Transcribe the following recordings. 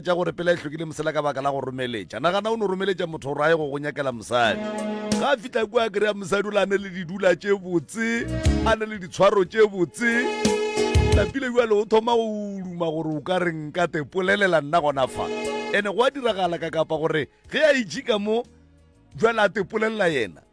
tša gore pela e hlokile mosela ka baka la go romeletša nagana o no romeletša motho gore a ye go go nyakela mosadi ga a fitlha kua kry-a mosadi o le a ne le didula tše botse a ne le ditshwaro tše botse lapile jale o thoma go duma gore o ka re nka te polelela nna gona fa ene go a diragala ka kapa gore ge a itšika mo jale a te polelela yena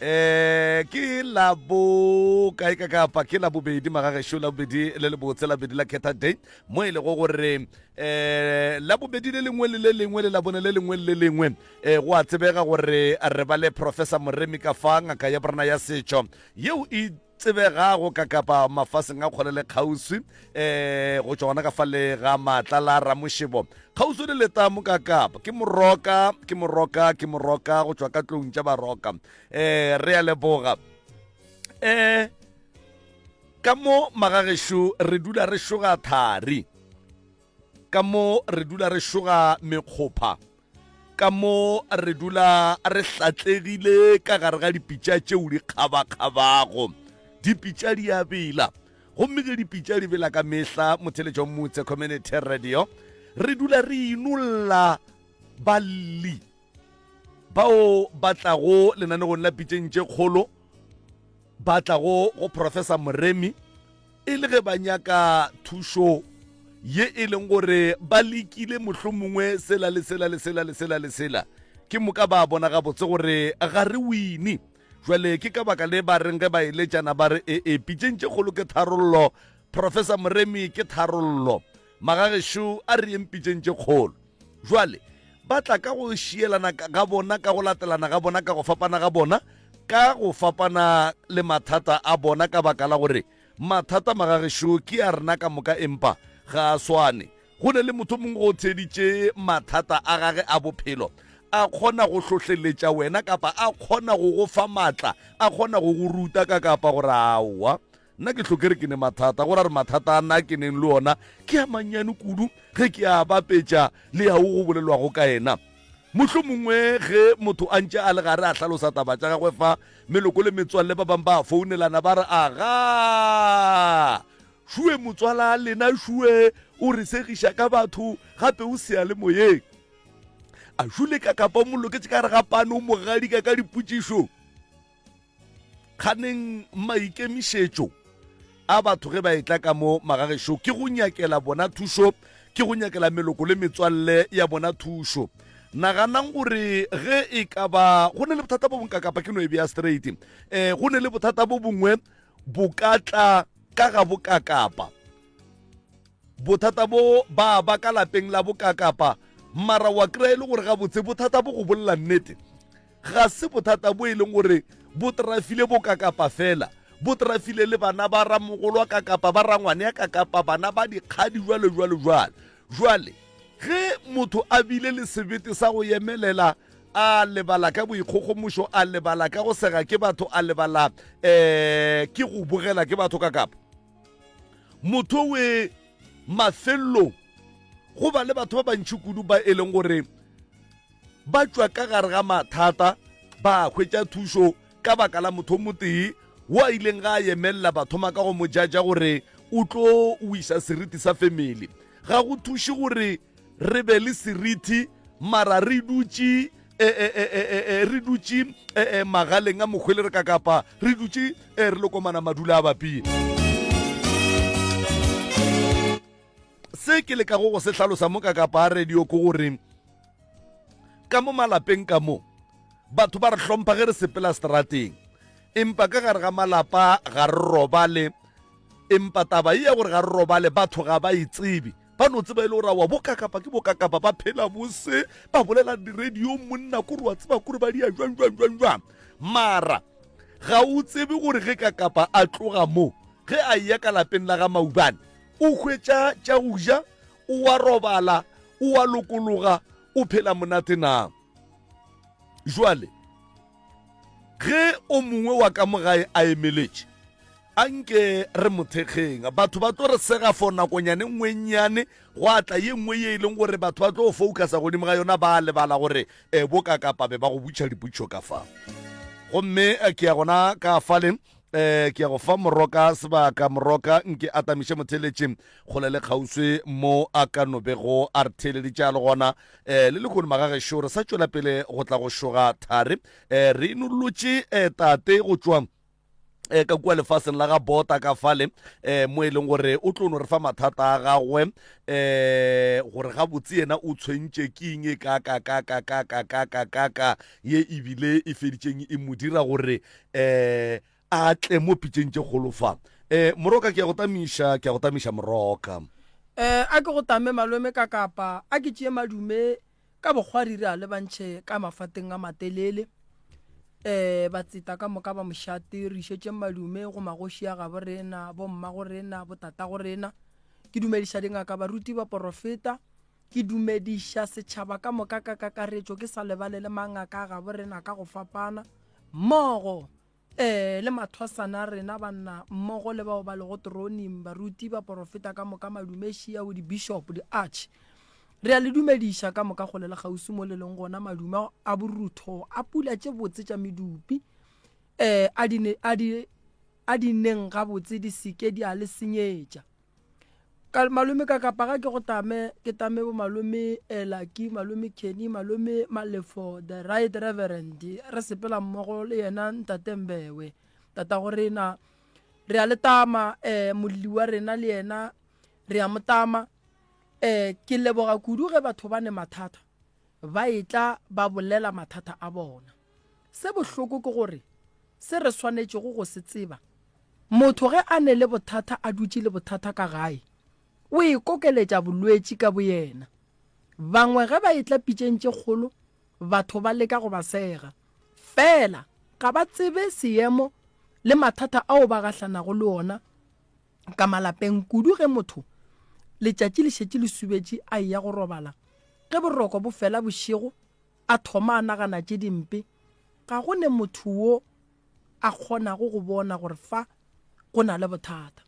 Eh, ke la bo kae ka kapa ke la bobedi magagešo la bobedi le le botse la bobedi la ketha day mo e lego gore eh la bobedi le lengwe le le lengwe le la bone le lengwe le le lengwe eh go a tsebega gore re ba le professor moremi ka fa ngaka ya borena ya setšo yeo e tsebegago ka kapa mafaseng a kgole le kgauswi um go tšwa gona ka fa le ga maatla la ramošebo kgauswi le leta mo ka kapa ke moroka ke moroka ke moroka go tšwa ka tlong tša baroka um re ya leboga um ka mo magagešo re dula re šoga thari ka mo re dula re šoga mekgopha Ka mo re dula re hlatlegile ka gare ga dipitša tšeo di kgabakgabago. Dipitša di a bela, gomme ge dipitša di bela ka mehla motheletša wa motse community radio re dula re inolla balli bao ba tlago lenanegong la pitšeng tše kgolo ba tlago go professor moremi e le ge ba nyaka thušo ye e leng gore ba lekile mohlomongwe mongwe sela le sela le sela le sela le sela ke moka ba bona gabotse gore ga re wine jwale ke ka baka le ba reng ge ba eletšana ba re ee pitšeng tše kgolo ke tharollo professor moremi ke tharollo Magagešo a re yeng pitšeng tše kgolo. Bjale, ba tla ka go šielana ga bona, ka go latelana ga bona, ka go fapana ga bona, ka go fapana le mathata a bona, ka baka la gore mathata, magagešo, ke a rena ka moka, empa ga a swane. Go na le motho o mongwe o theeditše mathata a gage a bophelo. A kgona go hlohleletša wena, kapa a kgona go go fa matla, a kgona go go ruta ka kapa gore aowa. Nna ke hlo ke re ke ne mathata, go ra re mathata a na ke neng le ona ke a mannyane kudu ge ke a bapetša le ya wo go bolelwago ka yena. Mohlomongwe ge motho a ntše a le gare a hlalosa taba tša gagwe fa, meloko le metswalle ba bangwe ba a founelana ba re, Agaa! Šue motswala lena šue o re segiša ka batho gape o seyalemoyeng. A šule ka kapa o mo loketše ka gare ga pano o mo gadika ka dipotšišo. kganeng maikemišetšo a batho ge ba etla ka mo magagešo ke go nyakela bona thušo ke go nyakela meloko le metswalle ya bona thušo naganang gore ge e ka ba go ne le bothata bo bonka kapa ke no e bea straight um eh, go ne le bothata bo bongwe bo ka tla ka ga bokakapa bothata bo ba ba ka lapeng la bokakapa mara wa kry e le gore gabotse bothata bo go bolela nnete ga se bothata bo e leng gore bo trafile bo ka kapa fela bo trafile le bana ba ramogolwa ka kapa ba rangwane ya ka kapa bana ba dikgadi jwalo jwalo jwalo jwale ge motho a bile le sebete sa go yemelela a lebala ka boikgogomošo a lebala ka go sega ke batho a lebala um ke go bogela ke batho ka kapa motho we mafelelong go ba le batho ba bantšhi kudu ba e leng gore ba tšwa ka gare ga mathata ba hwetša thušo ka baka la motho motee wo a ileng ga a yemelela ba thoma ka go mo jaja gore o tlo wisa seriti sa family ga go thuše gore re be le seriti mara re dutše e, e, e, re dutše magaleng a mokgwele re ka kapa re dutše re lokomana madula a bapie se ke lekago go se hlalosa mo ka kapa a radio ko gore ka mo malapeng ka mo batho ba re hlompha ge re sepela seterateng empa ka gare ga malapa ga re robale empa taba e ya gore ga re robale batho ga ba itsebe e ba no tseba e le gore wa bokakapa ke bokakapa ba phela bose ba bolela di-radio monna kore wa tseba kore ba dia jwang jwang jwang jwang mara ga o tsebe gore ge kakapa a tloga mo ge a eya ka lapeng la ga maubane o hwetša tša go ja O a robala, o a lokologa, o phela monate na? Jwale, ge o mongwe wa ka mogae a emeletše, a nke re mothekgeng batho ba tlo re sega for nakonyane nngwe nnyane gwa tla ye nngwe ye e leng gore batho ba tlo focusa godimo ga yona ba lebala gore um eh, bo ka kapa be ba go butšha diputšho ka fa gomme eh, ke ya gona ka faleng eh ke ya go fa moroka sebaka moroka nke a tamiše motheletše kgole le kgauswi mo a ka no bego a re theeleditše a le gona eh le lekone magagešo re sa tšwela pele go tla go šoga thari eh re inolotše eh tate go tšwa eh ka kua lefaseng la ga bota ka fale eh mo e leng gore o tlo no re fa mathata a gagwe eh gore ga botse yena o tshwentše ke eng e ka ka ka ka ka ka ka ka ka ka ye ebile e feditšeng e mo dira gore um a tle mo pitšeng tše kgolo fa um moroka ke ya go tamiša ke ya go tamiša moroka um a ke go tame malome ka kapa a ke tšee madume ka bokgwari re a lebantšhe ka mafateng a matelele um ba tseta ka moka ba mošate re išetšeng madume go magoši a gabo rena bomma go rena botata go rena ke dumediša dingaka baruti ba porofeta Ke dumediša setšhaba ka moka ka kakaretšo ke sa lebale le mangaka a gabo rena ka go fapana, mmogo ee, le mathwasana a rena banna, mmogo le bao ba lego toroning, baruti, baporofeta ka moka, madumešiao, dibishopo, diarch. Re a le dumediša ka moka kgole le kgauswi mo le leng gona, madume a borutho, a pula tše botse tša medupi, ee, a di, a di, a di neng gabotse di se ke di a le senyetša. ka malome ka kapa ga ke go tame ke tame bo malome elaki malome kenny malome malefo the right reverend re sepela mmogo le yena ntate mbewe tata go rena re a le tama um molli wa rena le yena re a mo tama um ke leboga kudu ge batho ba ne mathata ba e tla ba bolela mathata a bona Se bohloko ke gore se re swanetšego go se tseba, motho ge a ne le bothata a dutše le bothata ka gae, o ikokeletša bolwetši ka boyena. Bangwe ge ba etla pitšeng tše kgolo, batho ba leka go ba sega, feela ga ba tsebe seemo le mathata ao ba gahlanago le ona ka malapeng, kudu ge motho letšatši le šetše le subetše a eya go robala ge boroko bo fela bošego. A thoma a nagana tše dimpe. Ga go ne motho wo a kgonago go bona gore fa go na le bothata.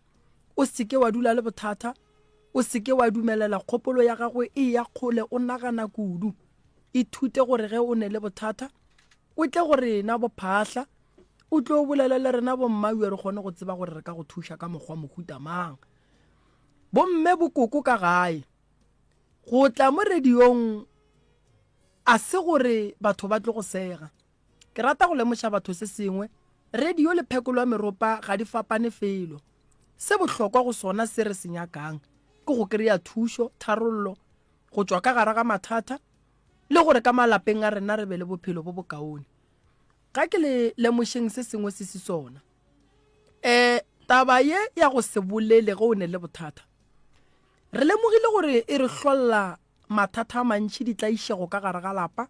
O se ke wa dula le bothata, o se ke wa dumelela kgopolo ya gago e eya kgole o nagana kudu. Ithute gore ge o ne le bothata, o tle go rena bophahla, o tlo bolela le rena bommawiyo re kgone go tseba gore re ka go thuša ka mokgwa mohuta mang. Bomme bokoko ka gae, Go tla mo radiong a se gore batho ba tlo go sega. Ke rata go lemoša batho se sengwe, radio le phekolo ya meropa ga di fapane felo. Se bohlokwa go sona se re se nyakang ke go kry-a thušo, tharollo, go tšwa ka gare ga mathata le gore ka malapeng a rena re be le bophelo bo bokaone. Ga ke le lemošeng se sengwe se se sona. Um taba ye ya go se bolele ge o ne le bothata, Re lemogile gore e re hlolla mathata a mantši, ditlaišego ka gare ga lapa,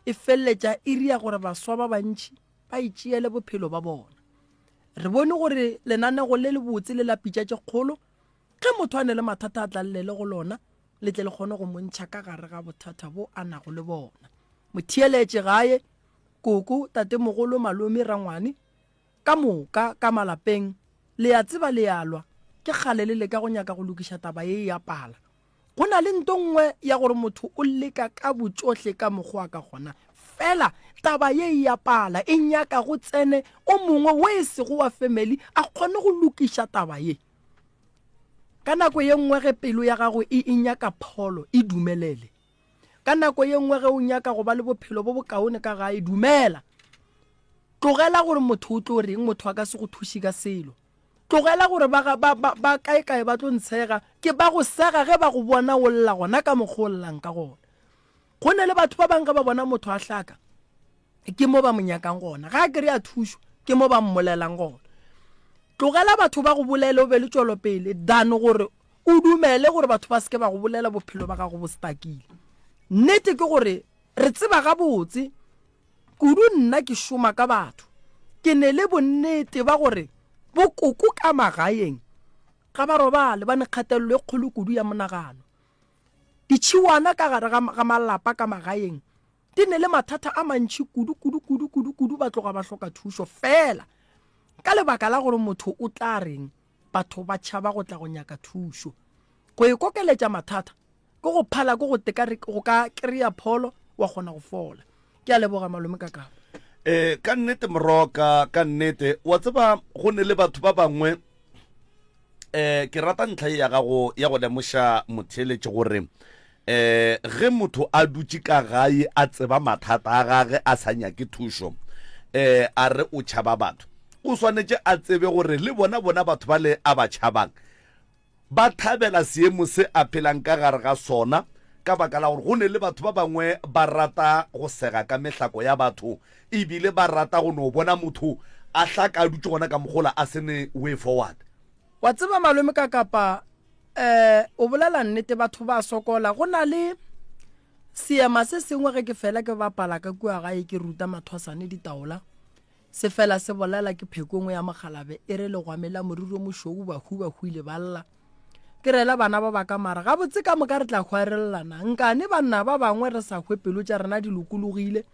e feleletša e ria gore baswa ba bantši ba itšeele bophelo ba bona. Re bone gore lenanego le lebotse le la pitša tše kgolo, ge motho a ne le mathata a tlallele go lona, le tle le kgone go mo ntšha ka gare ga bothata bo a nago le bona. Motheeletše gae, koko, tatemogolo, malome, rangwane, Ka moka, ka malapeng, le a tseba, le a lwa. Ke kgale le leka go nyaka go lokiša taba ye ya pala. Go na le nto nngwe ya gore motho o leka ka botšohle ka mokgo a ka gona. Fela, taba ye ya pala e nyaka go tsene o mongwe wo e sego wa family a kgone go lokiša taba ye. Ka nako ye nngwe ge pelo ya gago e, e nyaka pholo, e dumelele. Ka nako ye nngwe ge o nyaka go ba le bophelo bo bokaone ka gae, dumela. Tlogela gore motho o tlo reng, motho a ka se go thuše ka selo. Tlogela gore ba, ba, ba, ba kae-kae ba tlo ntshega, ke ba go sega ge ba go bona o lla gona ka mokgwa o llang ka gona. Go ne le batho ba bang ge ba bona motho a hlaka, ke mo ba mo nyakang gona. Ga a kry-a thušo, ke mo ba mmolelang gona. Tlogela batho ba go bolele o be le tšwelopele than gore O dumele gore batho ba se ke ba go bolela bophelo ba gago bo stakile. Nnete ke gore re tseba gabotse kudu nna ke šoma ka batho, ke ne le bonnete ba gore bokoko ka magaeng ga ba robale ba ne kgatelelo e kgolo kudu ya monagano. Ditšhiwana ka gare ga malapa ka magaeng di ne le mathata a mantšhi kudu, kudu, kudu, kudu, kudu ba tloga ba hloka thušo fela ka lebaka la gore motho o tla reng. Batho ba tšhaba go tla go nyaka thušo. Go e kokeletša mathata ke go phala ke go teka go ka kry-a pholo wa kgona go fola. Ke a leboga malome ka kabo. E, ka nnete moroka, ka nnete. Wa tseba go ne le batho ba bangwe um ke rata ntlha e ya gago ya go lemoša motheeletše gore Ee, ge motho a dutše ka gae a tseba mathata a gage a sa nyake thušo, ee, a re o tšhaba batho, o swanetše a tsebe gore le bona bona batho bale a ba tšhabang ba thabela seemo se a phelang ka gare ga sona ka baka la gore go ne le batho ba bangwe ba rata go sega ka mehlako ya batho e bile ba rata go no bona motho a hlaka a dutše gona ka mogola a se ne way forward. Wa tseba malome ka kapa eh o bolela nnete batho ba sokola go na le seema se sengwe ge ke fela ke bapala ka kua gae ke ruta mathwasane ditaola se fela se bolela ke phekongwe ya mogalabe e re legwamela moriro mošou bahu bahu ile ba lla ke rela bana ba baka mara gabotse ka moka re tla hwarelelana nkane banna ba bangwe re sa hwe pelo tša rena di lokologile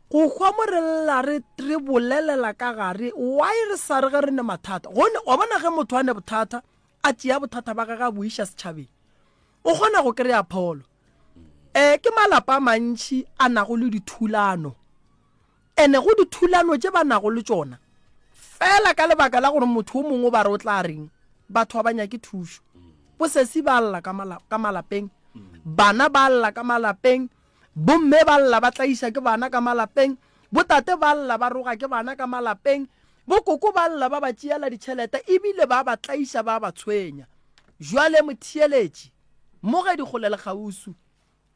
go hwa mo re lla re re bolelela ka gare why re sa re ge re ne mathata gone wa bona ge motho a ne bothata a tšea bothata ba gage a bo iša setšhabeng o kgona go kry-a pholo um ke malapa a mantšhi a nago le dithulano ene go dithulano tše ba nago le tšona fela ka lebaka la gore motho o mongwe o ba re o tla reng batho ba ba nyake thušo bosesi ba lla ka malapeng bana ba lla ka malapeng Bomme ba lla ba tlaiša ke bana ka malapeng, botate ba lla ba roga ke bana ka malapeng, bokoko ba lla ba ba tšeela ditšhelete e bile ba ba tlaiša ba ba tshwenya. Bjale, motheeletši, mmogedi kgole le kgauswi,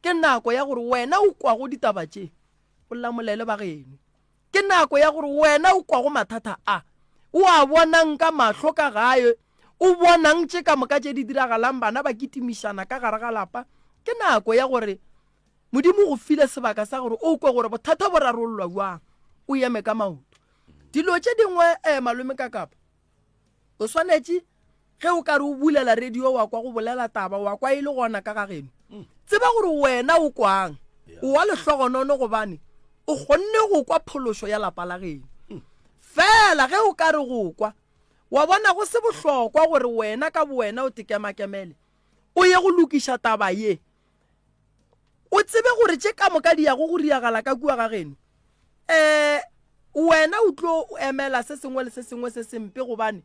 ke nako ya gore wena o kwago ditaba tše, o lamolele bageno. Ke nako ya gore wena o kwago mathata a, o a bonang ka mahlo ka gae, o bonang tše ka moka tše di diragalang, bana ba kitimišana ka gare ga lapa, ke nako ya gore Modimo o go file sebaka sa gore o kwe gore bothata bo rarollwa bjang, o eme ka maoto. Dilo tše dingwe eh, Malome Kakapa, O swanetše ge o ka re o bulela radio wa kwa go bolela taba wa kwa e le gona ka ga geno mm. tseba gore wena o kwang o wa lehlogonono gobane o kgonne go kwa phološo ya lapa la geno mm. fela ge o ka re go kwa wa bona go se bohlokwa gore wena ka bowena o tekemakemele o ye go lokiša taba ye o tsebe gore tše ka moka di yago go riagala ka kua ga geno um wena o tlo o emela se sengwe le se sengwe se sempe gobane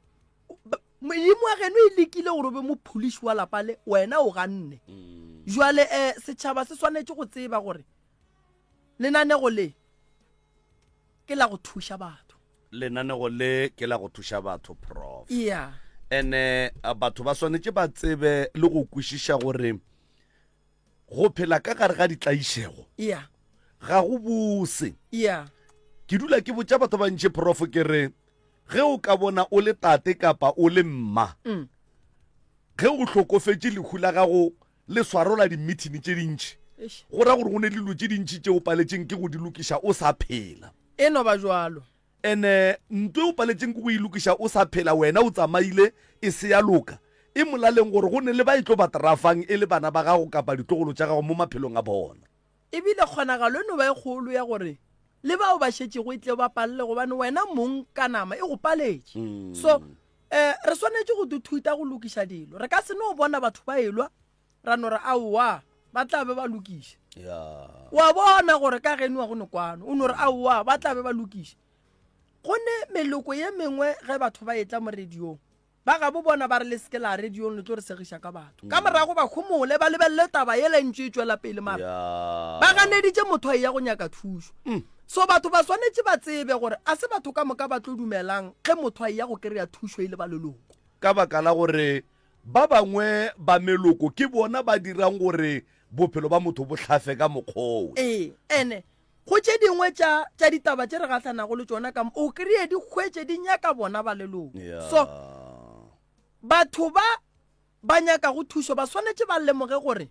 modimo wa geno e lekile gore o be mopholiši wa lapa le wena o ganne mm. jwale um setšhaba se swanetše go tseba gore lenanego le ke la go thuša batho lenanego le ke la go thuša batho prof iya ene a, batho ba swanetše ba tsebe le go kwešiša gore go phela ka gare ga ditlaišego iya ga go bose iya ke dula ke botša batho ba bantši prof ke re ge o ka bona o le tate kapa o le mma ge o hlokofetše lehu la gago le swarola dimithini tše dintši, go ra gore go ne le dilo tše dintši tše o paletšeng ke go di lokiša o sa phela. E no ba bjalo. And ntwa e o paletšeng ke go e lokiša o sa phela, wena o tsamaile, e se ya loka. E molaleng gore go ne le ba e tlo ba trafang e le bana ba gago kapa ditlogolo tša gago mo maphelong a bona. E bile kgonagalo e no ba e kgolo ya gore le bao ba šetšego e tleo ba palele gobane wena mong ka nama e go paletše. So, um re swanetše go thuthuta go lokiša dilo. Re ka se no bona batho ba elwa ra no re aowa ba tla be ba lokiša. Wa bona gore ka geniwa go ne kwano o no re aowa ba tla be ba lokiša. Gone meloko ye mengwe ge batho ba etla mo radiong Ba gabo bona ba re le se ke la radiong le tlo re segiša ka batho. Ka morago ba homole ba lebelele taba yela e ntše e tšwela pele mara ba ganeditše motho a eya go nyaka thušo. So batho ba swanetše ba tsebe gore a se batho ka moka ba tlo dumelang ge motho a eya go kry-a thušo e le ba leloko. Ka baka la gore ba bangwe ba meloko ke bona ba dirang gore bophelo ba motho bo hlafe ka mokgwa wo. Ee, and Go tše dingwe tša, tša ditaba tše re gahlanago le tšona ka mo, o kreye di hwetše di nyaka bona ba leloko. Yeah. So, batho ba ba nyakago thušo ba swanetše ba lemoge gore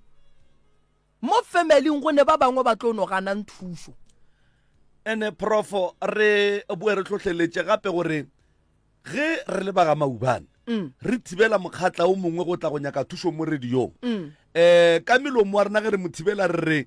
mo familing go ne ba bangwe ba tlo no ganang thušo. Ene profo re boe re tlhohleletše gape gore ge re le ba ga maubane mm. re thibela mokgatla o mongwe go tla go nyaka thušo mo radiong um ka melomo wa rena ge re mo thibela re re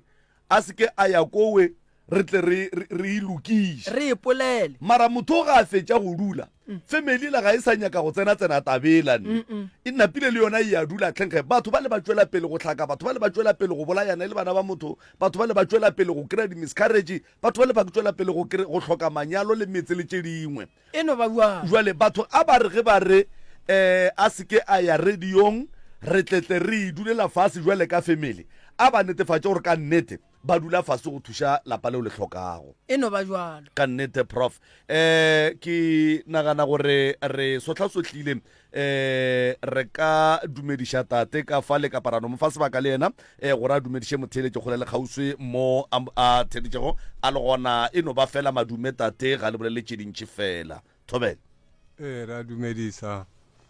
a se ke a ya kowe re tle re e lokiše re epolele mara motho o ga a fetša go dula mm. family la ga e sa nyaka go tsena tsena tabela ne e napile le yona e ya dula tlhenkge batho ba le ba tšwela pele go tlhaka batho ba le ba tšwela pele go bolayana e le bana ba motho batho ba le ba tšwela pele go kry-a di-miscarrage batho ba le ba tšwela pele go hloka manyalo le metse le tše dingwe E no ba bjang? Bjale, batho a ba re ge ba re, Ee, a se ke a ya radiong, re tle tle re idulela fase bjale ka family, a ba netefatše gore ka nnete ba dula fase go thuša lapa leo le hlokago. E no ba bjalo. Ka nnete, Prof. Ee, ke nagana gore re sohlasohlile um re ka dumediša tate ka fa le kaparano mo fa sebaka le yena um gore a dumediše motheeletše kgole le kgauswi mo a theeditšego a le gona e no ba fela madume tate ga le bolele tše dintši fela thobele ee re a dumedisa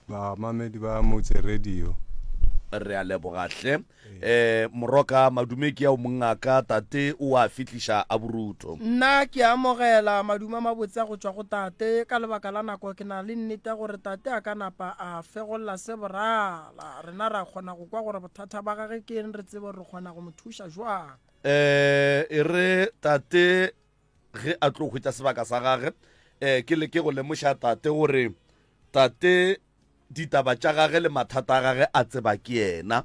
bamamedi ba motse radio re a lebogahle um moroka madume ke ao mongaka tate o a fihliša a borutho Nna ke a amogela madume a mabotse a go tšwa go tate. Ka lebaka la nako ke na le nnete ya gore tate a ka napa a fegolla se borala. Rena ra kgona go kwa gore bothata ba gage ke eng re tsebe gore re kgona go mo thuša jwang. um e re tate ge a tlo hwetša sebaka sa gage um ke leke go lemoša tate gore tate Ditaba tša gage le mathata a gage a tseba ke yena.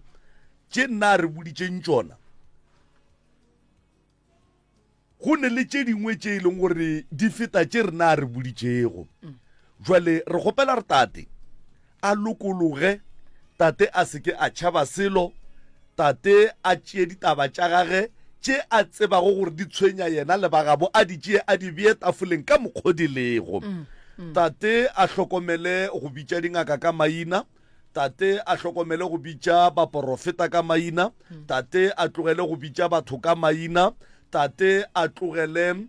Tše nna a re boditšeng tšona, go ne le tše dingwe tše e leng gore di feta tše rena a re boditšego. Jwale re kgopela re tate a lokologe, tate a seke a tšhaba selo, Tate a tšee ditaba tša gage tše a tsebago gore di tshwenya yena le ba gabo a di tšee a di bee tafoleng ka mokgo di lego. Tate a hlokomele go bitša dingaka ka maina. Tate a hlokomele go bitša baporofeta ka maina. Tate a tlogele go bitša batho ka maina. Tate a tlogele um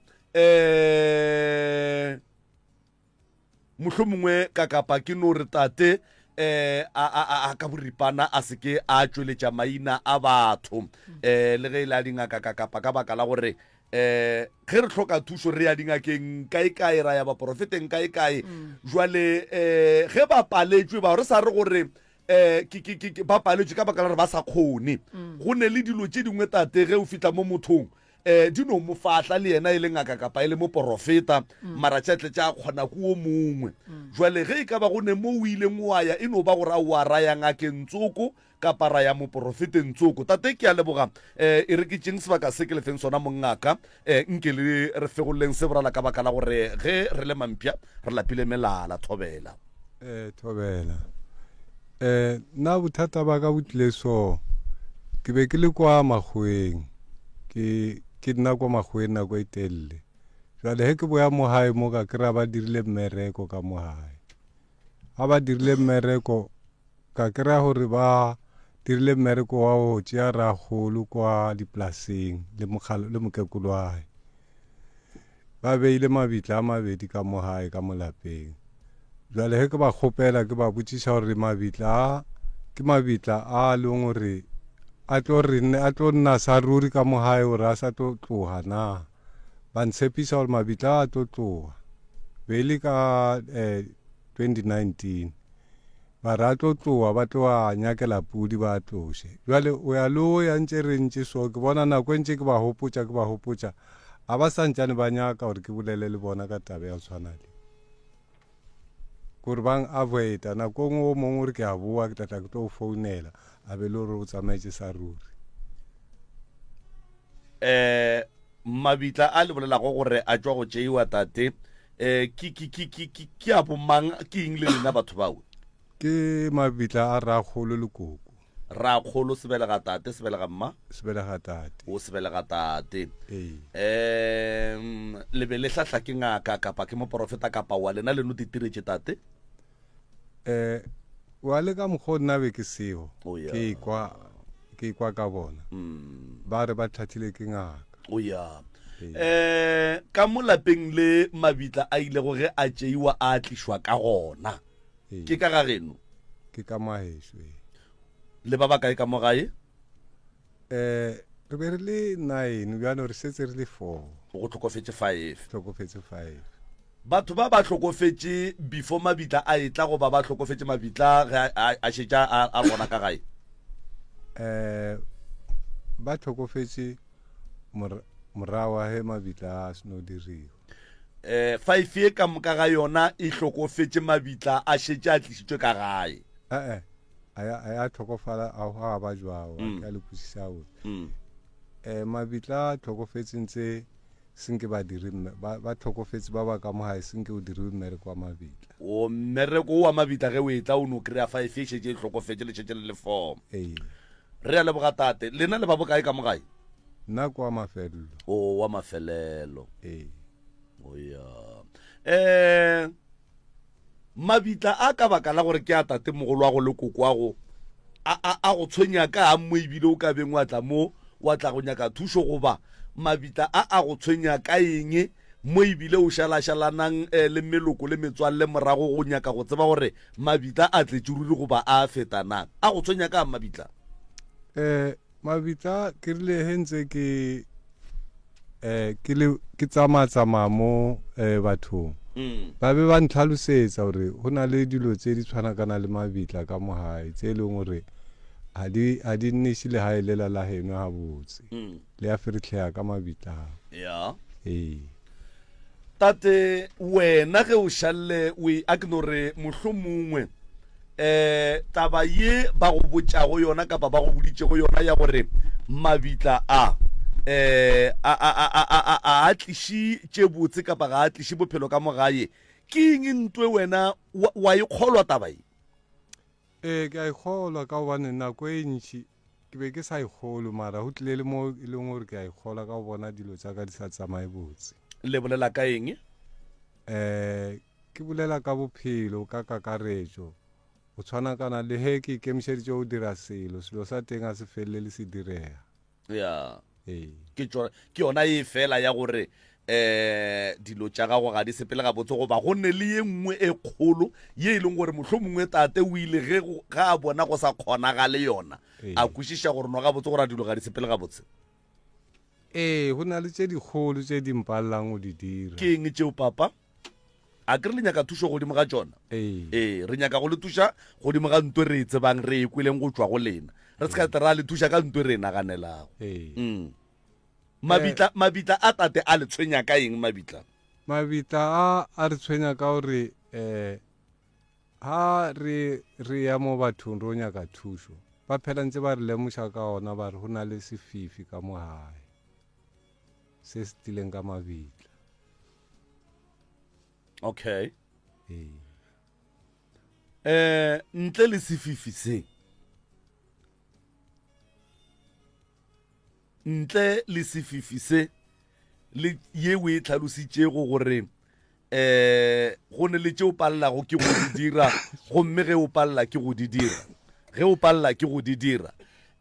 Mohlomongwe ka kapa ke no re tate um a, a, a ka boripana a se ke a tšweletša maina a batho um le ge e le a dingaka ka kapa ka baka la gore eh ge re hloka thušo re ya dingakeng kae kae ra ya baporofeteng kae kae jwale eh ge ba paletšwe bao re sa re gore eh ke- ke- ke- ke- ba paletšwe ka baka la gore ba sa kgone go ne le dilo tše dingwe tate ge o fitlha mo mothong Ee, di no mo fahla, le yena e le ngaka kapa e le moporofeta, mara tša tle tša kgona ku o mongwe. Jwale ge e ka ba go ne mo o ileng wa ya, e no ba gore a o a ra ya ngakeng tsoko, kapa ra ya moporofeteng tsoko. Tate, ke a leboga. Ee, e re ke tšeeng sebaka se ke le feng sona, mongaka. Ee, nke le re fegololeng se, brala, ka baka la gore ge re le mampša, re lapile melala. Thobela. Eh, thobela eh, nna bothata ba ka bo tlile so ke be ke le kwa makgweng ke ke nna kwa makgweng nako e telele jale he ke boya mo gae mo ka kry-a ba dirile mmereko ka mo gae ga ba dirile mmereko ka kry-a gore ba dirile mmereko wa go tšea ragolo kwa dipolaseng le mokgalo le mokekolo wa gae Ba beile mabitla a mabedi ka mo gae ka molapeng. Bjale ge ke ba kgopela, ke ba botšiša gore mabitla a ke mabitla a leng gore a tlo re a tlo nna sa ruri ka mo gae gore a sa tlo tloga na. Ba ntshepiša gore mabitla a tlo tloga. Be e le ka eh, 2019. ba re a tlo tlowa ba tlo a nyakela pudi ba a tloše bjale o ya le o ya ntše re ntše so ke bona nako e ntše ke ba hopotša ke ba hopotša a ba sa ntšane ba nyaka gore ke bolele le bona ka taba ya go tshwana le gore bang avoida nako ngwe o mongwe gore ke a boa ke tlatla ke tlo o founela a be le gore o tsamaetse sa ruri Eh, mabitla a le bolelago gore a tšwa go tšeiwa tate eh, ke, ke, ke, ke, ke, ke a bomang ke eng le lena batho bao ke mabitla a ragolo le koko rakgolo sebelega tate sebelega mma sebelega tate o sebelega tate ee um le be le hlahla ke ngaka kapa ke moporofeta kapa wa lena le no ditiretše tate eh wa le ka mokgwa o nna be ke seo oh, yeah. ke ikwa ke ikwa ka bona mm. ba re ba thathile ke ngaka o oh, ya eh ka molapeng le mabitla a ile go ge a tšeiwa a tlišwa ka gona ke ka ga geno ke ka maheso le ba ba kae ka mo gae um re be re le nine bjalo re setse re le four go tlhokofetše five tlhokofetse five batho ba ba hlokofetše before mabitla a etla goba ba hlokofetše mabitla ge a- a a šetša a a bona ka gae um ba tlhokofetse mor- morago ga ge mabitla a seno diriwa um five ye ka moka ga yona e hlokofetše mabitla a šetše a tlisitswe ka gae ee a ya tlhokofala a go a ba jwago mm. a le kwisisa o mm. eh mabitla a tlhokofetseng tse senke ba dire ba ba tlhokofetse ba ba ka mo gae senke o dire mmereko wa mabitla o mmereko wa mabitla ge o e tla o no kry-a fa e fešetse e tlhokofetse le šetse le le form ee re ya le bogatate lena le ba bokae ka mo gae nna kwa mafelelo o wa mafelelo ee o ya eh Mabitla a ka baka la gore ke a tatemogolwago le kokoago a, a, a go tshwenya ka a mo ebile o ka beng wa tla mo wa tla go nyaka thušo goba mabitla a a go tshwenya ka eng mo ebile o šalašalanang eh, le meloko le metswalle morago go nyaka go tseba gore mabitla a tletšeruri goba a feta na a go tshwenya ka mabitla eh, Mabitla ke rile he ntse ke eh ke le ke tsamaya tsamaya mo eh bathong mm. ba be ba ntlhalosetsa gore go na le dilo tse di tshwanakana le mabitla ka mogae tse e leng gore ga di ga di nneše le ga e lela la geno ga botse mm. le ya feritlhega ka mabitla yeah. ee tate wena ge o šalle we a ke no re mohlomongwe Taba ye ba go botšago yona kapa ba go boditšego yona ya gore mabitla a a a tliše tše botse kapa ga a tliše bophelo ka mo gae, ke eng ntwe wena wa e kgolwa taba ye? Ee, ke a ikgolwa ka gobane nako e ntši Ke be ke sa e kgolwe, mara go tlile le mo e leng gore ke a e kgola ka go bona dilo tsa ka di sa tsamaye botse. Le bolela ka eng? Eh, ke bolela ka bophelo ka kakaretšo. Go tshwana kana le he ke ikemišeditše go dira selo, selo sa teng ga se felele se direga. Yeah. Ee. Ke tšo ke yona e fela ya gore um dilo tša gago ga di sepele gabotse goba go ne le ye nngwe e kgolo ye e leng gore mohlho mongwe tate o ile ge go- ga a bona go sa kgonagale yona Ee. a kwešiša gore no gabotse gore a dilo ga di sepele gabotse ee go na le tše dikgolo tše di mpalelang go di dira ke eng tšeo papa a ke re le nyaka thušo godimo ga tsona ee ee re nyaka go le thuša godimo ga ntwe re e tsebang re e kweleng go tšwa go lena re se ka tla ra le thuša ka ntwe re e naganelago ee Mm. mabitla mabitla a tate a le tshwenya ka eng mabitla mabitla a a re tshwenya ka gore eh ha re re ya mo bathong ro nyaka thušo ba phela ntse ba re lemoša ka ona ba re ho na le sefifi ka mo gae se se tlileng ka mabitla okay ee eh ntle le sefifi se ntle le sefifi se le ye o e tlhalositšego gore eh go ne le tše o palelago ke go di dira gomme ge o palela ke go di dira ge o palela ke go di dira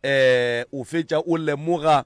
eh o fetša o lemoga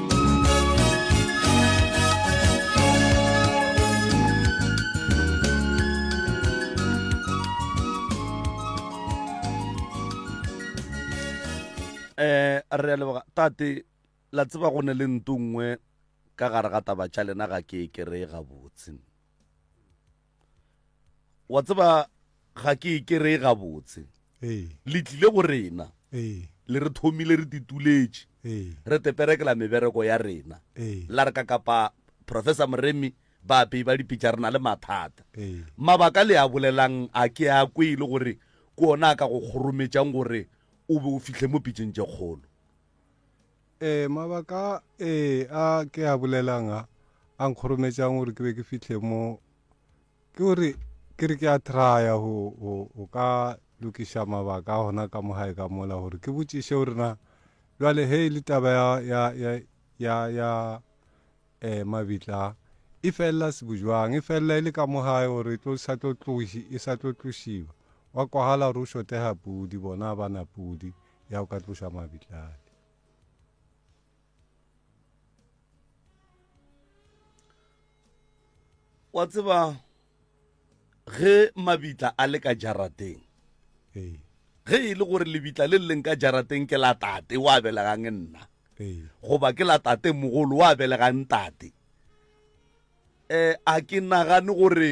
eh a re a leboga tate la tseba go ne le nto nngwe ka gare ga taba tša lena ga ke e kereye gabotse wa tseba ga ke e kereye gabotse le tlile go rena le re thomile re tituletše re teperekela mebereko ya rena la re ka kapa professor moremi ba apei ba dipitša re na le mathata mabaka le a bolelang a ke a kwe e le gore ke ona a ka go kgorometšang gore o be o fihle mo pitšeng tše kgolo Ee, mabaka a ee a ke a bolelang a a nkgorometšang gore ke be ke fihle mo ke gore ke re ke a traya go go ka lokiša mabaka a gona ka mo gae ka mola gore ke botšiše gore na jwale he e le taba ya ya ya ya ya eh mabitla e felela sebojwang e felela e le ka mo gae gore e tlo sa tlo tloši e sa tlo tlošiwa wa kwagala gore o shotega pudi bona ba na pudi ya o ka tloša mabitlale wa tseba ge mabitla a le ka jarateng ge e le gore lebitla le leng ka jarateng ke la tate wa belegang nna goba ke la tate mogolo wa belegang tate um a ke nagane gore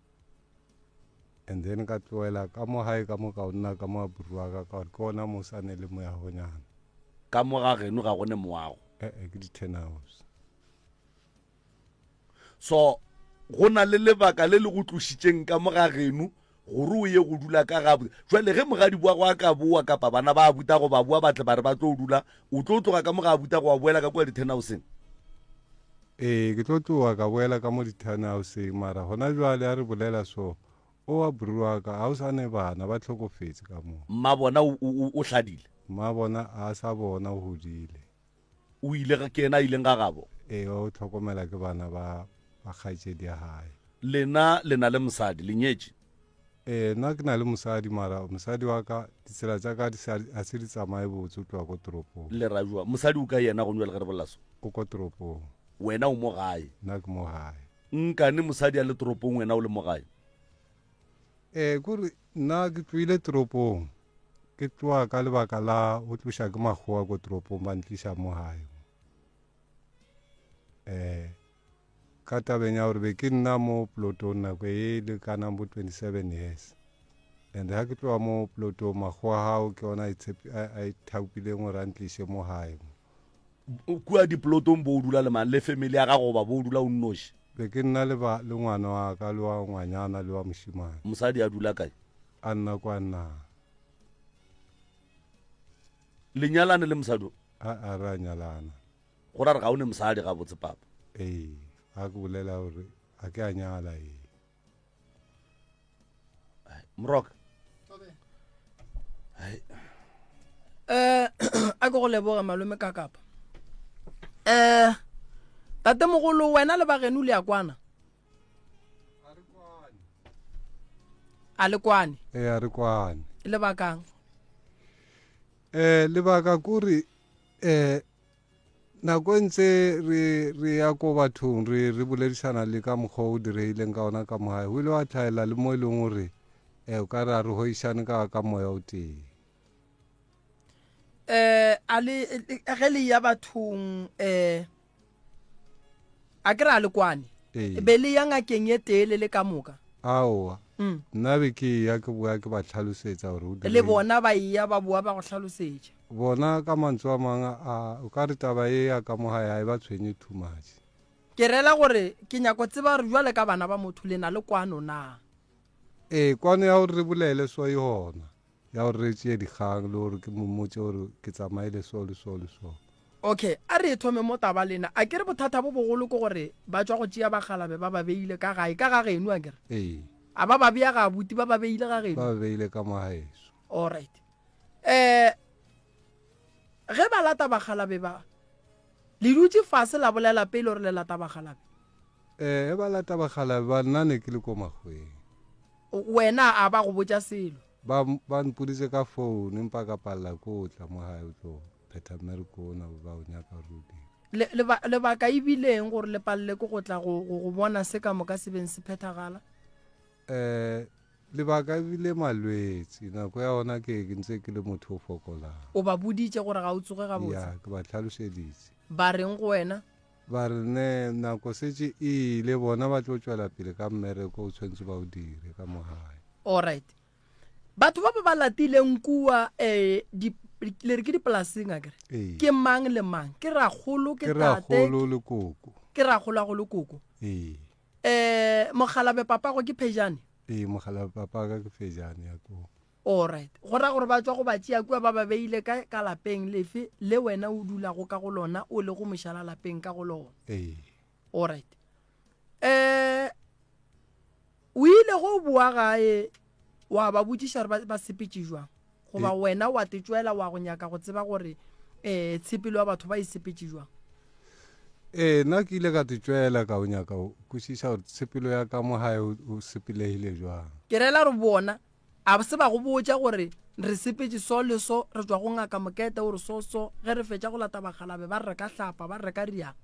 and then ka tloela ka mo gae ka moka o nna ka mo a buruaka ka gore ke ona mo sa ne le moyagonyana ka mo ga geno ga go ne moago ee ke di-ten hours so go na le lebaka le le go tlošitšeng ka mo ga geno gore o ye go dula ka ga jale ge mogadi boa go a ka boa kapa bana ba buta go ba boa batle ba re ba tlo dula o tlo tloga ka mo ga abuta go a boela ka kua dithenhauseng ee ke tlo tloga ka boela ka mo dithenhauseng mara gona jwale a re bolela so o wa bruaka ga o sa ne bana ba tlhokofetse ka moo mma bona o hladile mma bona a sa bona o godile o ile ke ena a ileng ga gabo ee o tlhokomela ke bana ba ba kgaetšedi ya gae lena le na le mosadi le nyetše Ee, nna ke na le mosadi mara mosadi wa ka ditsela tsa ka a se di tsamaye botse o tloa ko toropong. Lerajwa, mosadi o ka yena gone bjale ge re bolela so? O ko toropong. Wena o mo gae? Nna ke mo gae. Nkane mosadi a le toropong wena o le mo gae? Ee, kore nna ke tloile toropong ke tloa ka lebaka la o tloša ke makgowa ko toropong ba ntliša mo gae. Ee. Ka tabeng ya gore be ke nna mo plotong nako e lekanang bo 27 years and ha ke tloga mo plotong makgowa hao ke ona a ithaupileng gore a ntliše mo gae mo. Kua diplotong bo o dula le mang? Le family ya gago goba bo o dula o nnoši? Be ke nna le ba le ngwana wa ka le wa ngwanyana le wa mošimane. Mosadi a dula kae? A nna kwa nna. Le nyalane le mosadi o? A a re a nyalana. go ra re ga o ne mosadi ga botse papa ee a ke bolela gore a ke a nyala ee mroka eh a ke go leboga malome ka kapa eh tate mogolo wena le bageno le ya kwana a le kwane ee a re kwane lebakang eh lebaka kore eh nako e ntse re re ya ko bathong re re boledišana le ka mokgwa o direileng ka ona ka mogae o ile wa tlhaela le mo e leng gore um o ka re a re goišane ka ka moya o tee um a le ge le ya bathong um a ke re a le kwane be le ya ngakeng e tee le le ka moka aowa mm. nna be ke ya ke boya ke ba tlhalosetsa gore le bona ba eya ba boa ba go tlhalosetša Bona, ka mantsu a mang, a, o ka re taba ye ya ka mo gae ga e ba tshwenye too much. Ke reela gore, ke nyaka go tseba gore bjale ka bana ba motho le na le kwano na. Ee, kwano ya gore re bolele so e gona, ya gore re tšee dikgang, le gore ke mo mmotše gore ke tsamaile so le so le so. Okay, a re e thome mo taba lena. A ke re bothata bo bogolo ke gore ba tšwa go tšea bakgalabe ba ba beile ka gae, ka ga geno, a ke re? Ee. A ba ba bea ga abuti, ba ba beile ga geno? Ba ba beile ka mo gaeso. Alright. Eh, ge ba lata bagalabe ba, le dutše fase la bolela pele gore le lata bagalabe? Eh, ge ba lata bagalabe ba, nna ne ke le ko makgweng. Wena a ba go botša selo? Ba, ba mpoditse ka phone, empa ka palela ko o tla mo gae o tlo phetha mmereko ona ba o nyaka Rudy. Le, leba, lebaka e bileng gore le palele ke go tla go, go, go bona se ka moka se beng se phethagala? Ee, lebaka e bile malwetsi, nako ya ona ke ke ntse ke le motho o fokolang. O ba boditše gore ga o tsoge gabotse? Ya, ke ba tlhalošeditše. Ba reng go wena? Ba re ne nako setse e ile, bona ba tlo tšwela pele ka mmereko o tshwanetse ba o dire ka mo gae. Alright. Batho ba ba ba latileng kua um le re ke dipolaseng a kere Ee. ke mang le mang ke ragolo ke Ke tate ragolo le koko. ke ragolagolo koko Ee. Eh, mokgalabe papago ke phejane? Ee, mokgalabe papaga ke phejane ya koo. Alright. Go ra gore ba tswa go ba tšea kua ba ba beile ka, ka lapeng lefe le wena o dulago ka go lona o le go mošala lapeng ka go lona? Ee. Alright. Eh, o ile go boa gae wa ba botšiša gore ba sepetše jwang goba eh. wena wa tetšwela wa go nyaka go tseba gore um tshepelo ya batho ba e sepetše jwang ee nna ke ile ka tetšwela ka o nyaka o kwešiša gore tshepelo ya ka mo gae o sepelegile jwang ke rela re bona a se ba go botša gore re sepetse so le so re tswa go ngaka mokete gore so so ge re fetša go lata bagalabe ba re ka hlapa ba re ka riang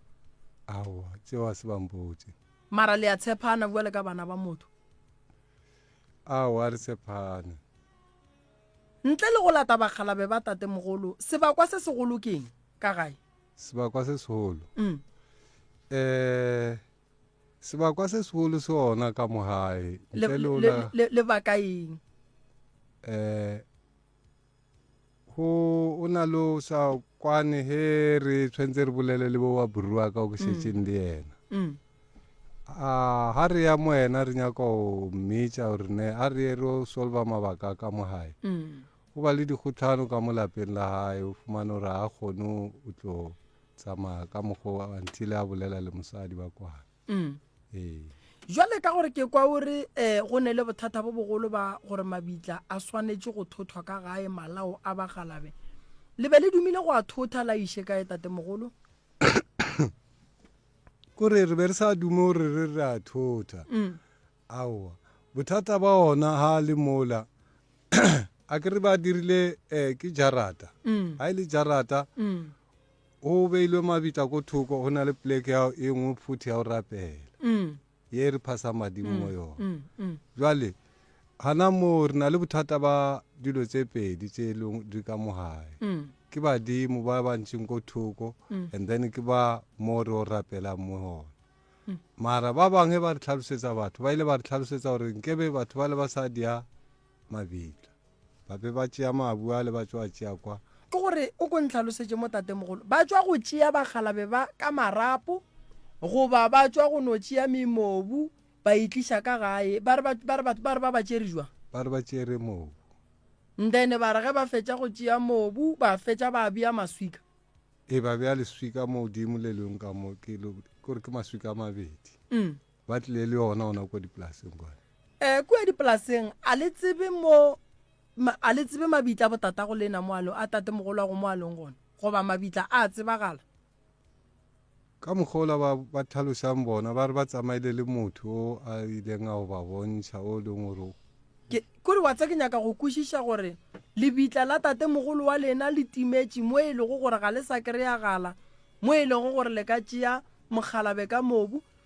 aowa tseo a se bampotse mara le ya tshepana bjale ka bana ba motho Aowa, re tshepane. Ntle le go lata bakgalabe ba tatemogolo, sebakwa se segolo ke eng? Ka gae? Sebakwa se segolo? Um. Eh, sebakwa se segolo se ona ka mo gae. Ntle le ona. Lebaka eng? Eh, go o na le o sa kwane he re tshwanetse re bolele le bo wa borua ka o ke šetseng le yena mm. a ha re ya mo yena re nyaka o mmitša gore ne a re ye re o solva mabaka ka mo gae mm. o ba le dikgotlhano ka mo lapeng la gae o fumane gore ga kgone o tlo tsamaya ka mokgwa until a bolela le mosadi ba kwana mm. ee jwale ka gore ke kwa o re um go ne le bothata bo bogolo ba gore mabitla a swanetše go thothwa ka gae malao a bagalabe le be le dumile go a thotha la iše kae tatemogolo kore re be re sa dume gore re re a thotha mm. aowa bothata ba ona ga le mola a ke re ba dirile um ke jarata mm. ga e le jarata mm. O beilwe mabitla ko thoko, go na le pleke ya e nngwe phuthi ya go rapela mm. ye e re phasa madimo mm, mo yona. Mm, mm. Jwale gana moo re na le bothata ba dilo tse pedi tse leng di ka mogae mm. ke badimo ba ba ntšeng ko thoko mm. and then ke ba mo re o rapelang mo gona mm. mara ba bangwe ba re tlhalosetsa batho ba ile ba re tlhalosetsa gore nkebe batho ba le ba sa dia mabitla. Ba be ba tšea mabu ale ba tšo a tšea kwa. Ke gore o ko ntlhalosetše mo tatemogolo, ba tšwa go tšea bakgalabe ba ka marapo goba ba tšwa go no tšea memobu ba e tliša ka gae, ba re ba ba re ba re ba ba tšere jwang? Ba re ba tšere mobu. Ndene ba re ge ba fetša go tšea mobu ba fetša ba bea maswika. E ba bea leswika mo godimo le leng ka mo ke lo gore ke maswika a mabedi. Mm. ba tlile le yona ona kwa dipolaseng kwane um kua dipolaseng a le tsebe mo a le tsebe mabitla botata go lena moalo a tate mogolo a go moalong gona goba mabitla a tsebagala ka mokgola ba ba tlhalosang bona ba re ba tsamaile le motho o a ileng a go ba bontšha o leng gore kore wa tsa ke nyaka go kwešiša gore lebitla la tate mogolo wa lena le timetše mo e lego gore ga le sa kry-agala mo e lego gore le ka tšea mokgalabe ka mobu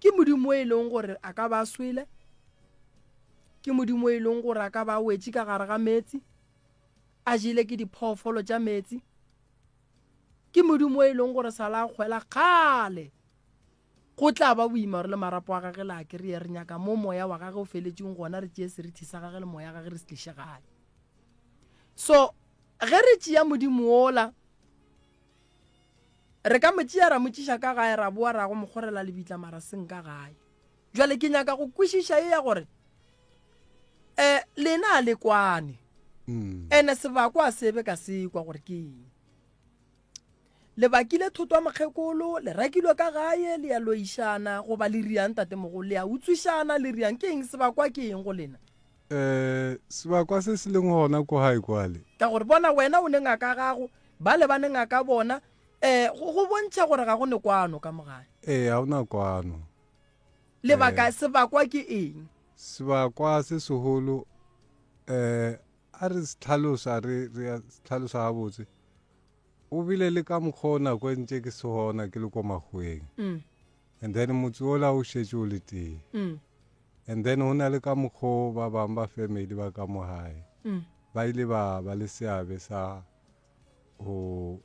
Ke Modimo e leng gore a ka ba swele, ke Modimo e leng gore a ka ba wetše ka gare ga meetse, a jele ke diphoofolo tša meetse. Ke Modimo e leng gore sa la kgwela kgale go tla ba boimaro le marapo a gage la kry-a re nyaka mo moya wa gage o feletseng gona re tšee serithi sa gage le moya wa gage re se tliše gae so ge re tšea modimo ola Re ka mo tšea ra mo tšiša ka gae ra boa ra go mo kgorela lebitla mara seng ka gae. Jwale ke nyaka go kwešiša e ya gore eh lena a le kwane ene sebako a sebe ka sekwa gore ke eng. Le bakile thotwa mokgekolo le rakilwe ka gae le ya loišana goba le riang tatemogolo le ya utswišana le riang ke eng sebakwa ke eng go lena. sebakwa se se leng gona ko gae kwale. Ka gore bona, wena o ne ngaka gago, bale ba ne ngaka bona, um, go bontšha gore ga go ne kwano ka mo gae. Ee, ga go na kwano. Lebaka, sebakwa ke eng? Sebakwa se segolo, um, a re se tlhalosa re re tlhalosa gabotse o bile le ka mokgwa o nako e ntse ke se gona ke le ko makgweng mm. and then motse ola o šetše o le tee mm. and then go na le ka mokgwa ba bangwe ba family ba ka mo gae mm. ba ile ba ba le seabe sa go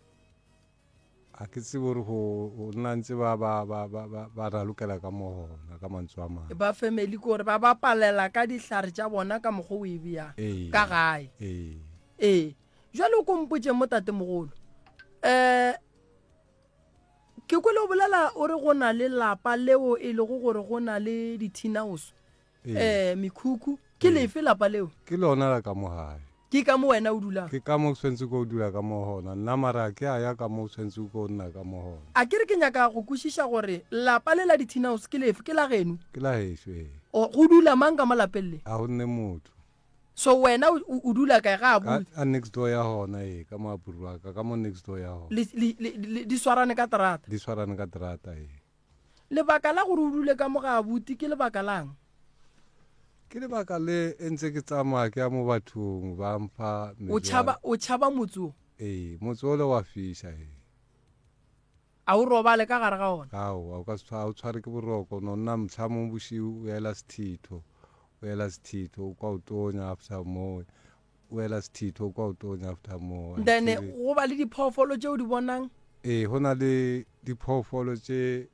a ke tsebo gore go nna ntse ba ba ba ba ba ba ralokela ka mo gona ka mantswe a mangwe ba family ke gore ba ba palela ka dihlare tša bona ka mokgwa o e bea ee. ka gae ee ee jwale o kompotse mo tatemogolo um eh, ke kwele o bolela o re go na le lapa leo e lego gore go na le dithinaoso um ee. eh, mekhukhu ke ee. lefe lapa leo ke lona la ka mogae ke ka mo wena o dulang ke ka mo tshwanetse ko o dula ka mo gona nna mara ke a ya ka mo tshwanetse ko o nna ka mo gona a ke re ke nyaka go kwešiša gore lapa le la dithinaoso ke lefe ke la geno ke la geso ee go dula mang ka mo lapeng le ga go nne motho So wena o dula kae ga a bue. Ka next door ya hona e ka mo apurwa ka ka mo next door ya hona. Le le le di swarane ka terata. Di swarane ka terata e. Lebaka la gore o dule ka mo ga abuti ke lebaka lang? Ke lebaka le entse ke tsamaya ke ya mo bathong ba mfa O chaba o chaba motse o. E motse o le wa fisha e. A o robale ka gare ga ona? Aowa, o ka se tshwa, ga o tshware ke boroko. O no nna mhla mong bošiu, o ela sethitho, o ela sethitho, o kwa o tonya after mowe, o ela sethitho, o kwa o tonya after mowe. Then go ba le diphoofolo tše o di bonang? Ee, go na le diphoofolo tše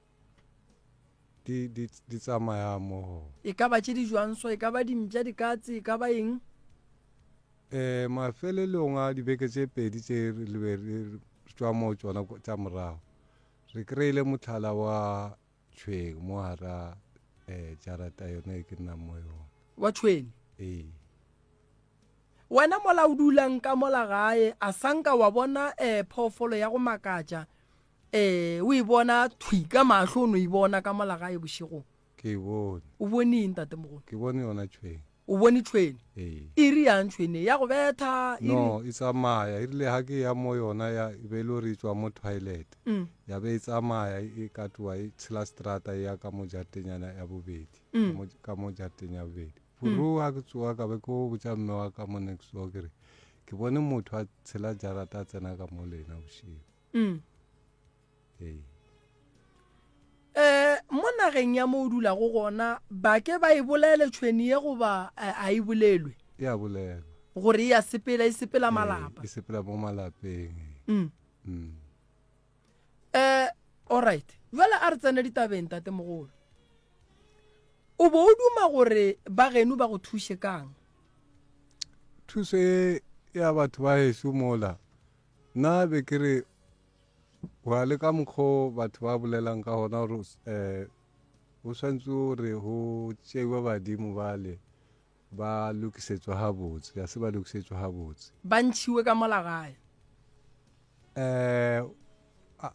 di, di, di tsamayang mo gona. E ka ba tše di jwang so? E ka ba dimpša, dikatse, e ka ba eng? Ee, mafelelong a dibeke tše pedi tše re be re tšwa moo tšona tša morago, re kry-ile motlhala wa tšhweng mo gara um jarata yona e ke nnang mo yona. Wa tšhwene? Ee. Wena mola o dulang ka mola gae, a sa nka wa bona um phoofolo ya go makatša um o e bona thwi ka mahlo o no e bona ka mola gae bošegong? Ke e bone. O bone eng, Tate Mogolo? Ke bone yona tšhwene. O bone tšhwene? Ee. E re yang tšhwene? Ya go betha? No, e tsamaya. E rile ha ke ya mo yona ya e be e le gore e tšwa mo toilet. Ya be e tsamaya e ka tloa e tshela strata e ya ka mo jatenyana ya bobedi, ka mo jateng ya bobedi. Buru ha ke tsoga ka be ke o botša mme wa ka mo next door ke re, ke bone motho a tshela jarata a tsena ka mo le yena bošego. mm. hey. eh mo nageng ya mo o dulago gona ba ke ba e bolele tšhweni ye goba eh, a e bolelwe e a bolelwa gore e a sepela e sepela eh, malapa e sepela mo malapeng mm. mm. eh alright jale a re tsene ditabeng tate mogolo o bo o duma gore ba geno ba go thuse kang thuso e ya batho ba heso mola Nna be ke re, Gwa le ka mokgwa o batho ba bolelang ka gona gore um go swantse gore go tšeiwe badimo bale ba lokisetswa gabotse, ga se ba lokisetswa gabotse. Ba ntšhiwe ka mola gae. Um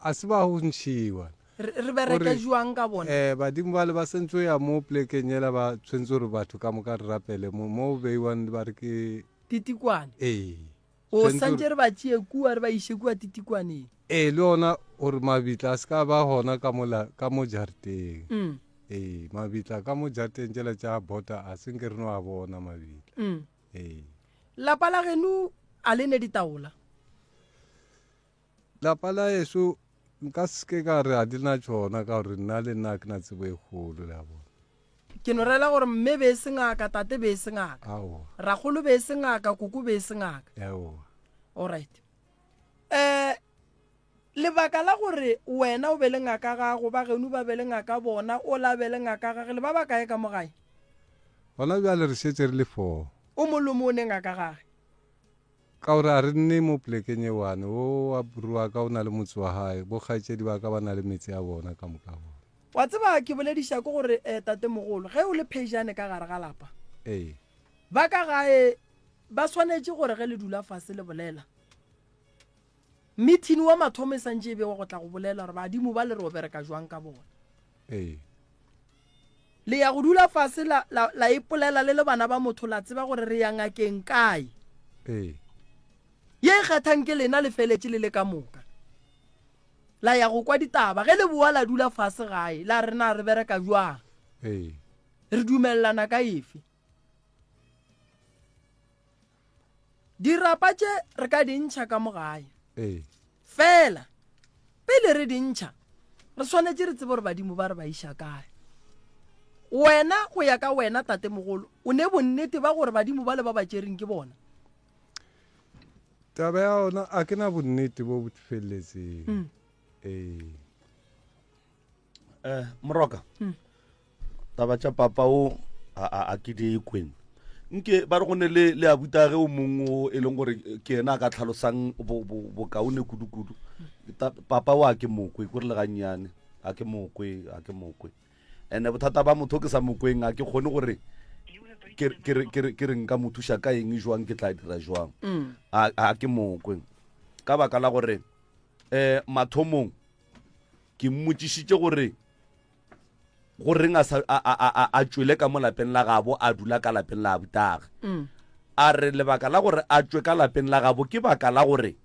a se ba go ntšhiwa. Re bereke jwang ka bona? Um badimo bale ba sentse o ya mo plekeng yela ba tshwentse gore batho ka moka re rapele mo mo beiwang ba re ke ditikwane. Ee. O santše re ba tšee kua re ba iše kua titikwaneng. Ee, le ona gore mabitla a se ka ba gona ka mola ka mo jareteng. Mm. Ee, mabitla ka mo jareteng tšela tša bota a se nke re no a bona mabitla. Mm. Ee. Lapa la geno a le ne ditaola? Lapa la eso nka seke ka re a di na tšona ka gore nna le nna ke na tsebo e kgolo le a bona. Ke no rela gore mme be e se ngaka, tate be e se ngaka. Aowa. Ragolo be e se ngaka, koko be e se ngaka. Aowa. All right. Eh, lebaka la gore wena o be le ngaka gago, ba genu ba be le ngaka bona, o la be le ngaka gage, le ba ba kae ka mo gae? Gona bjale re šetše re le four. O molomo o ne ngaka gage. Ka gore a re nne mo plekeng e one, wo wa bru wa ka o na le motse wa gae, bo kgaetšedi ba ka ba na le metse ya bona ka moka bona. Wa tseba ke bolediša ke gore eh, tatemogolo, ge o le phejane ka gare ga lapa, Ee. ba ka gae ba swanetše gore ge le dula fase le bolela, mithini wa mathomo e santše e bewa go tla go bolela gore badimo ba le re o bereka jwang ka bona. Ee. Le ya go dula fase la, la, la ipolela le le bana ba motho, la tseba gore re ya ngakeng kae. Ee. Ye e kgathang ke lena le feletše le le ka moka. La ya go kwa ditaba. Ge le boa la dula fase gae, la re na re bereka bjang. Ee. Re dumelelana ka efe. dirapa tše re ka di ntšha ka mo gae ee. fela pele re di ntšha re swanetše re tsebe gore badimo ba re ba iša kae wena go ya ka wena tate mogolo o ne bonnete ba gore badimo ba le ba ba tšereng ke bona taba ya ona a ke na bonnete bo bo feleletseng mm. ee eh moroka hmm. taba tša papa o a ke di kweng nke ba re go ne le le abuta ge o mong o e leng gore ke ena a ka tlhalosang bokaone kudu-kudu papa o a ke mokwe ko re le gannyane a ke mokwe a ke mokwe and-e bothata ba motho ke sa mokweng a ke kgone gore ke re nka mo thuša ka eng jwang ke tla dira jwang mm. a ke mokwe ka baka la gore um mathomong ke mmotšišitše gore go reng a tšwele ka mo lapeng la gabo a dula ka lapeng la abutaga mm. a re lebaka la gore a tšwe ka lapeng la gabo ke baka la gore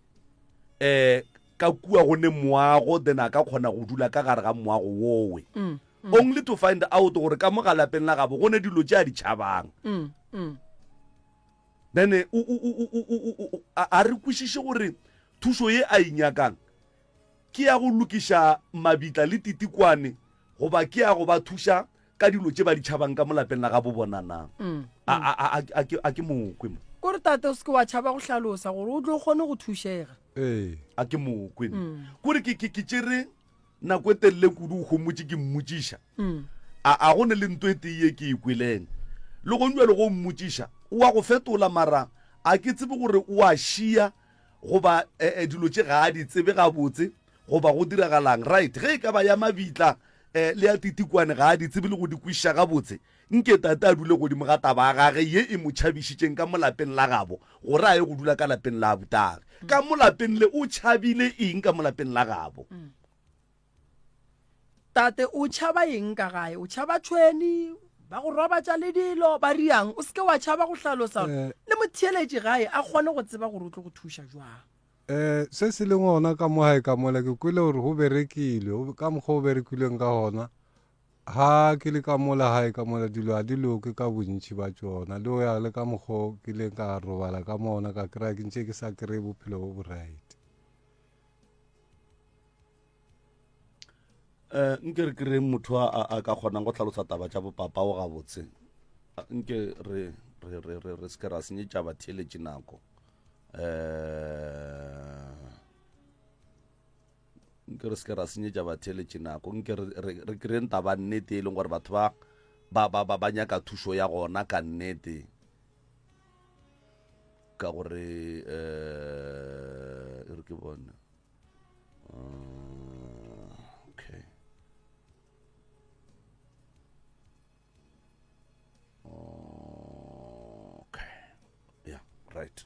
um ka kua go ne moago then a ka kgona go dula ka gare ga moago wowe mm, mm. only to find out gore ka mo ga lapeng la gabo go ne dilo tse a di tšhabang then a re kwešiše gore thušo ye a inyakang e Ke ya go lokiša mabitla le titikwane goba ke ya go ba thuša ka dilo tše ba di tšhabang ka mo lapeng la gabo bona na? Mm, a, mm. a, a, a, ke, a ke mokwe mo? Kore tate o se ke wa tšhaba go hlalosa gore o tlo kgone go thušega. Ee. A ke mokwe mo? Mm. Kore ke, ke, ke tšere nako e telele kudu o homotše ke mmotšiša. Mm. A, a go ne le nto e tee ye ke e kweleng. Le gong jalo go mmotšiša, o a go fetola mara a ke tsebe gore o a šia Goba, e, e, dilo tše ga a di tsebe gabotse, goba go diragalang. Right. Ge e ka ba ya mabitla, e, le ya titikwane ga a di tsebe le go di kwešiša gabotse. Nke Tate a dule godimo ga taba ya gage ye e mo tšhabišitšeng ka mo lapeng la gabo, gore a ye go dula ka lapeng la abutagi. Ka mo lapeng le, o tšhabile eng ka mo lapeng la gabo? Tate, o tšhaba eng ka gae? O tšhaba tšhweni, ba go robatša le dilo, ba riang? O seke wa tšhaba go hlalosa gore eh. le motheeletši gae a kgone go tseba gore o tlo go thuša jwang. Eh, se se leng gona ka mo gae ka mola ke kwele gore go berekilwe ka mokgwa o berekilweng ka gona ha ke le ka mola gae ka mola dilo ga di loke ka bontši ba tsona le go ya le ka mokgwa ke leng ka robala ka mona ka kry-a ke ntše ke sa kry-e bophelo bo bo right eh nke re kry motho a ka kgonang go tlhalosa taba tša bopapa o gabotse nke re re re re re seke ra senyetša batheeletše nako eh nke re seke ra senyetša batheeletše nako nke re kry taba nnete e leng gore batho ba ba ba ba nyaka thušo ya gona ka nnete ka gore eh, e re ke bone uh, okay okay yeah right